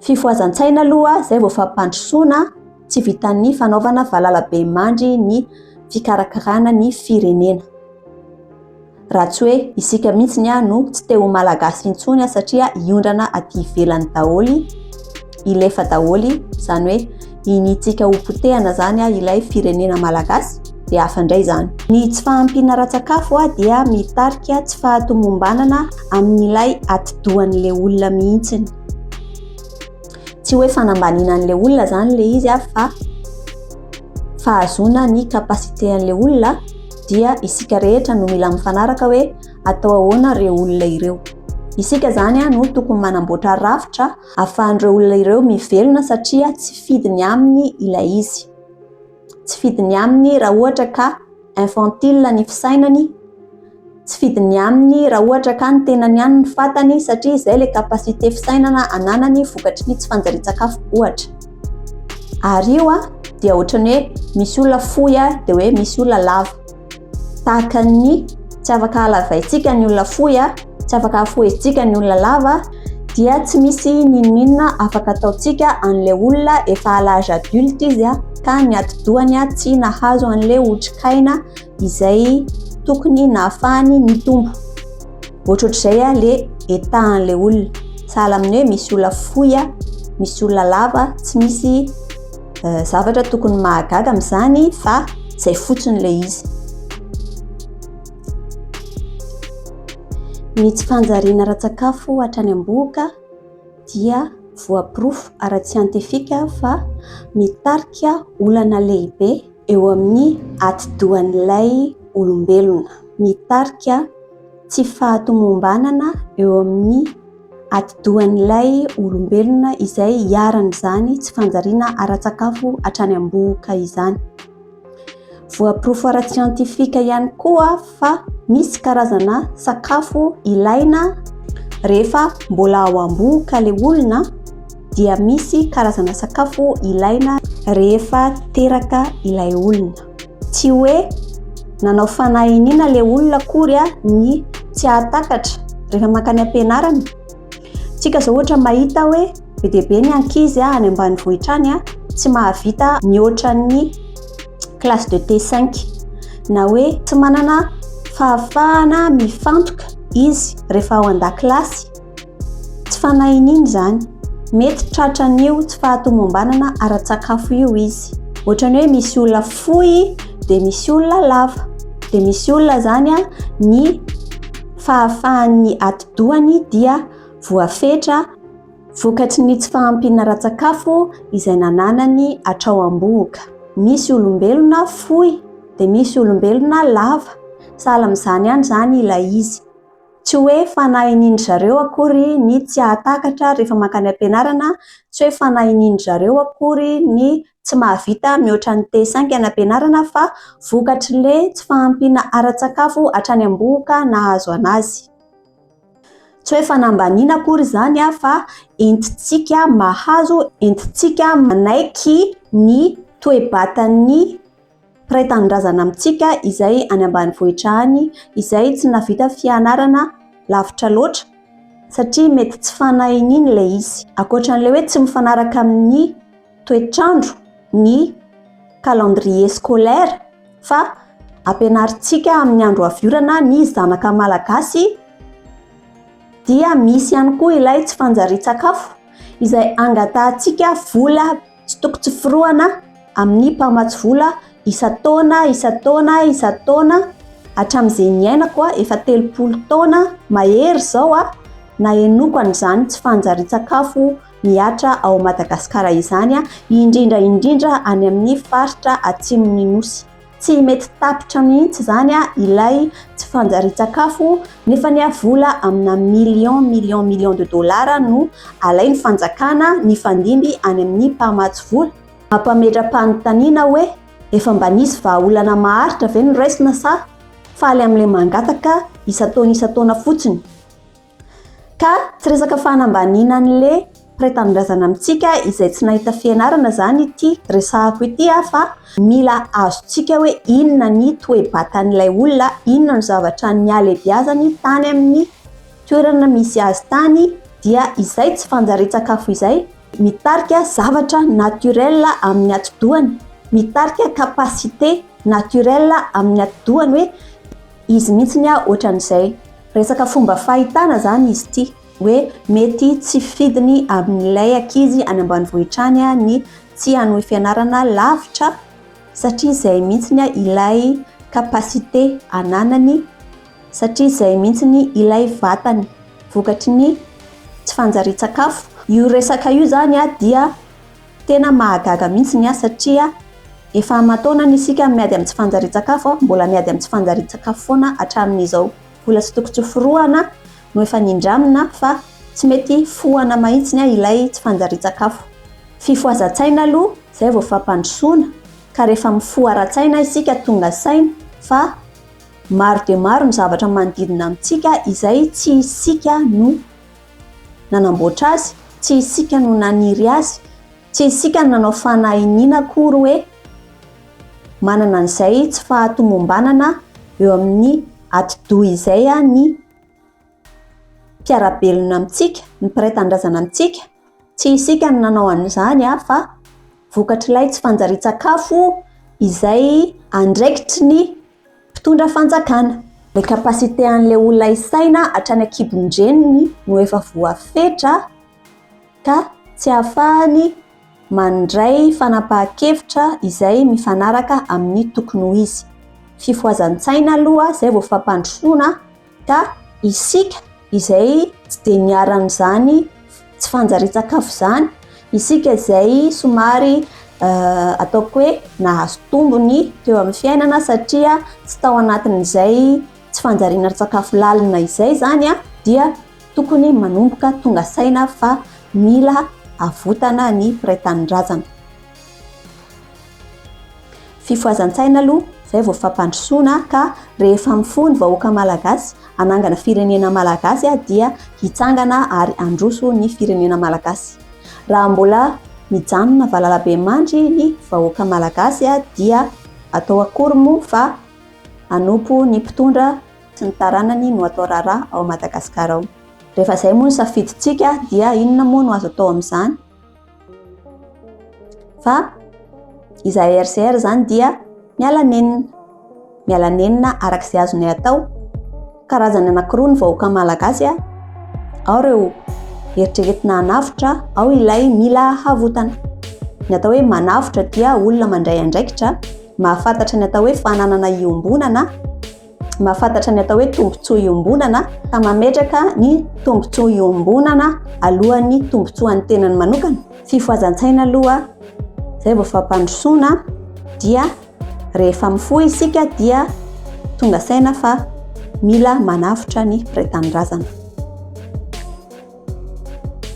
Fifohazan-tsaina aloha izay vao fampandrosoana, tsy vitan'ny fanaovana valalabemandry ny fikarakarana ny firenena. Raha tsy hoe isika mihitsy ny no tsy te ho malagasy intsony satria hiondrana aty ivelany daholo, hilefa daholo, izany hoe iniantsika ho potehana izany ah, ilay firenena malagasy dia hafa indray izany. Ny tsy fahampiana ara-tsakafo ah, dia mitarika tsy fahatomombanana amin'ilay atidohan'ilay olona mihitsiny. Tsy hoe fanambaniana an'ilay olona izany ilay izy ah, fa fahazoana ny capacité an'ilay olona dia isika rehetra no mila mifanaraka hoe atao ahoana ireo olona ireo. Isika izany ah, no tokony manamboatra rafitra Ahafahan'ireo olona ireo mivelona satria tsy fidiny aminy ilay izy. Tsy fidiny aminy raha ohatra ka infantile ny fisainany, tsy fidiny aminy raha ohatra ka ny tenany ihany ny fatany satria izay ilay capacité fisainana ananany vokatry ny tsy fanjarian-tsakafo ohatra. Ary io dia ohatran'ny hoe misy olona fohy dia hoe misy olona lava. Tahaka ny tsy afaka halavaintsika ny olona fohy, tsy afaka hafohezitsika ny olona lava, dia tsy misy n'inon'inona afaka ataontsika an'ilay olona efa à l'âge adulte izy ka ny atidohany tsy nahazo an'ilay otrikaina izay tokony nahafahany nitombo. Ohatrohatr'izay ilay etahan'ilay olona. Sahala amin'ny hoe misy olona fohy, misy olona lava, tsy misy eh, zavatra tokony mahagaga amin'izany fa izay fotsiny ilay izy ny tsy fanjariana ara-tsakafo hatrany am-bohoka dia voaporofo ara-tsiantifika fa mitarika olana lehibe eo amin'ny atidohan'ilay olombelona mitarika tsy fahatomombanana eo amin'ny atidohan'ilay olombelona izay iharan'izany tsy fanjariana ara-tsakafo hatrany am-bohoka izany. Voaporofo ara-tsiantifika ihany koa fa misy karazana sakafo ilaina rehefa mbola ao am-bohoka ilay olona dia misy karazana sakafo ilaina rehefa teraka ilay olona. Tsy hoe nanao fanahy iniana ilay olona akory ny tsy hahatakatra rehefa mankany am-pianarana. Tsika izao ohatra mahita hoe be dia be ny ankizy any ambanivohitra any tsy mahavita mihoatra ny classe de T5 na hoe tsy manana fahafahana mifantoka izy rehefa ao an-dakilasy. Tsy fanahy iniana izany. Mety tratran'io tsy fahatomombanana ara-tsakafo io izy. Ohatrany hoe misy olona fohy dia misy olona lava. Dia misy olona izany a, ny fahafahan'ny atidohany dia voafetra vokatry ny tsy fahampiana ara-tsakafo izay nananany hatrao am-bohoka. Misy olombelona fohy dia misy olombelona lava. Sahala amin'izany ihany izany ilay izy. Tsy hoe fanahy inin-dry zareo akory ny tsy hahatakatra rehefa mankany am-pianarana, tsy hoe fanahy inin-dry zareo akory ny tsy mahavita mihoatra ny test saingy any am-pianarana fa vokatr'le tsy fahampiana ara-tsakafo hatrany am-bohoka nahazo anazy. Tsy hoe fanambaniana akory izany fa entintsika mahazo, entintsika manaiky ny toe-batan'ny Mpiray tanindrazana amintsika izay any ambanivohitra any izay tsy nahavita fianarana lavitra loatra satria mety tsy fanahy iny ilay izy. Ankoatra an'ilay hoe tsy mifanaraka amin'ny toetrandro ny calendrier scolaire fa ampianarintsika amin'ny andro avy orana ny zanaka malagasy dia misy ihany koa ilay tsy fanjarian-tsakafo izay angatahantsika vola Tsy toko tsy forohana amin'ny mpamatsy vola isan-taona, isan-taona, isan-taona hatramin'izay niainako aho, efa telopolo taona mahery izao aho nahenoako an'izany tsy fanjarian-tsakafo mihatra ao Madagasikara izany, indrindra indrindra any amin'ny faritra atsimon'ny Nosy. Tsy mety tapitra mihitsy izany ilay tsy fanjarian-tsakafo nefa ny vola amina millions millions millions de dollars no alain'ny fanjakana nifandimby any amin'ny mpamatsy vola. Mampametra-panontaniana hoe efa mba nisy vahaolana maharitra ve noraisina sa faly amin'ilay mangataka isan-taona isan-taona fotsiny? Ka tsy resaka fanambaniana an'i le mpiray tanindrazana amintsika izay tsy nahita fianarana izany ity resahako ity aho fa mila azontsika hoe inona ny toe-batan'ilay olona, inona no zavatra nialebiazany tany amin'ny toerana misy azy tany dia izay tsy fanjarian-tsakafo izay mitarika zavatra naturel amin'ny atidohany, mitarika capacité naturel amin'ny atidohany hoe. Izy mihitsy ny ah ohatran'izay. Resaka fomba fahitana zany izy ity hoe mety tsy fidiny amin'ilay ankizy any ambanivohitra any ny tsy hanohy fianarana lavitra satria izay mihitsy ilay capacité ananany satria izay mihitsy ilay vatany vokatry ny tsy fanjarian-tsakafo. Io resaka io zany dia. Tena mahagaga mihitsy ny ahy satria efa aman-taonany isika miady amin'ny tsy fanjarian-tsakafo, mbola miady amin'ny tsy fanjarian-tsakafo foana hatramin'izao. Vola tsy tokony tsy hoforohana no efa nindramina fa tsy mety fohana mahitsy ilay tsy fanjarian-tsakafo. Fifohazan-tsaina aloha izay vao fampandrosoana ka rehefa mifoha ara-tsaina isika tonga saina fa maro dia maro ny zavatra manodidina amintsika izay tsy isika no Nanamboatra azy, tsy isika no naniry azy, tsy isika no nanao fanahy iniana akory hoe manana an'izay tsy fahatomombanana eo amin'ny atidoha izay ny mpiara-belona amintsika, ny mpiray tanindrazana amintsika, tsy isika no nanao an'izany fa vokatr'ilay tsy fanjarian-tsakafo izay andraikitry ny Mpitondra fanjakana. Le capacité anle olona hisaina hatrany ankibony dreniny no efa voafetra ka tsy ahafahany mandray fanapahan-kevitra izay mifanaraka amin'ny tokony ho izy. Fifohazan-tsaina aloha zay vao fampandrosoana Ka isika izay tsy dia miara amin'izany tsy fanjarian-tsakafo izany, isika izay somary ataoko hoe nahazo tombony teo amin'ny fiainana satria tsy tao anatin'izay tsy fanjariana sakafo lalina izay izany dia tokony manomboka tonga saina fa mila avotana ny mpiray tanindrazana. Fifohazan-tsaina aloha izay vao fampandrosoana ka rehefa mifoha ny vahoaka malagasy hanangana firenena malagasy dia hitsangana ary handroso ny firenena malagasy. Raha mbola mijanona valalabemandry ny vahoaka malagasy dia atao akory moa fa hanompo ny mpitondra sy ny taranany no atao raharaha ao Madagasikara ao. Rehefa izay moa ny safidintsika dia inona moa no azo atao amin'izany? fa izahay RCR izany dia miala nenina miala nenina araka izay azonay atao karazany anankiroa ny vahoaka malagasy a ao ireo eritreretina hanavotra ao ilay mila havotana ny atao hoe manavotra dia olona mandray andraikitra mahafantatra ny atao hoe fananana iombonana mahafantatra ny atao hoe tombontsoa iombonana ka mametraka ny tombontsoa iombonana alohan'ny tombontsoan'ny tenany manokana fifohazan-tsaina aloha izay vao fampandrosoana dia rehefa mifoha isika dia tonga saina fa mila manavotra ny mpiray tanindrazana